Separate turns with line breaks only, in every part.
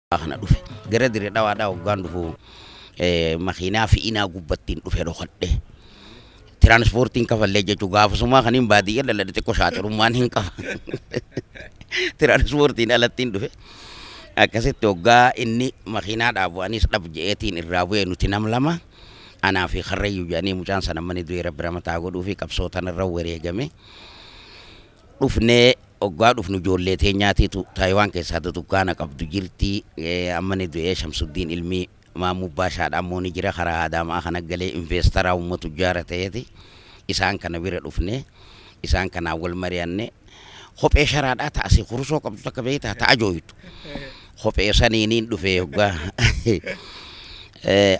kana dhufe gara dire dhawaadhaa hoggaan dhufu makiinaa fe'inaa gubbattiin dhufe dhokadhe. Tiraansipoortiin kafallee jechuun gaafasumaa kaniin baadiyyaa dhaladhe xiqqoo shaaxirummaan hin qaba. Tiraansipoortiin alattiin dhufe. Akkasitti hoggaa inni makiinaa dhaabu anis dhab je'eetiin irraa bu'e nuti nam lama. Anaa fi karrayyuu jedhanii mucaan sana mani du'e rabbi ramataa godhuu fi qabsoo tanarra wareegame. dhufnee oggaa dhufnu ijoollee teenyaatiitu Taayiwaan keessaa dudukkaana qabdu jirti. Amma ni du'ee Shamsuddiin ilmi Maammuu Baashaadha ammoo ni jira karaa Adaama'aa kana galee investeraa umma tujjaara ta'eeti. Isaan kana bira dhufne isaan kanaan wal mari'anne kophee sharaadhaa ta'a si kurusoo qabdu takka beektaa ta'a jooytu. Kophee saniiniin dhufee oggaa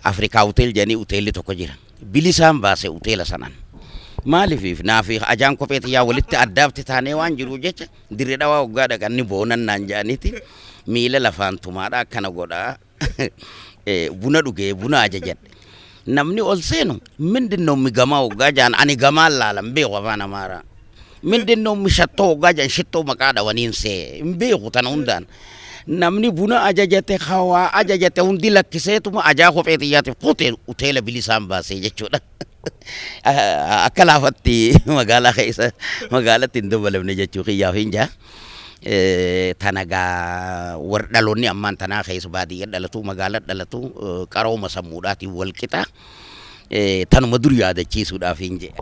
Afrikaa hotel jedhanii hoteelli tokko jira. bilisaan baase uteela sanan. Maaliif naafi ajaan kophee tiyyaa walitti addaabti taanee waan jiruuf jecha dirre dhawaa hoggaa dhaqan ni boonan naan ja'aniiti miila lafaan tumaadha akkana godha buna dhugee buna ajajadhe. Namni ol seenu mindin noo migamaa hoggaa ja'an ani gamaan laalan beeku afaan amaaraa. Mindinno mishattoo hoggaa jedhan shittoo maqaa dhawaniin see hin beeku tana hundaan. Namni buna ajajate hawaa ajajate hundi lakkiseetuma ajaa kophee xiyyaatiif kute hoteela bilisaan baasee jechuudha. Akka laafatti magaalaa keessa magaalatti hin dabalamne jechuu kiyyaaf hin jaa. Tana gaa warri dhaloonni ammaan tanaa keessa baadiyyaa dhalatu magaalaa dhalatu qarooma sammuudhaatiin wal qixa. tanuma dur yaadachiisuudhaafiin jedhe.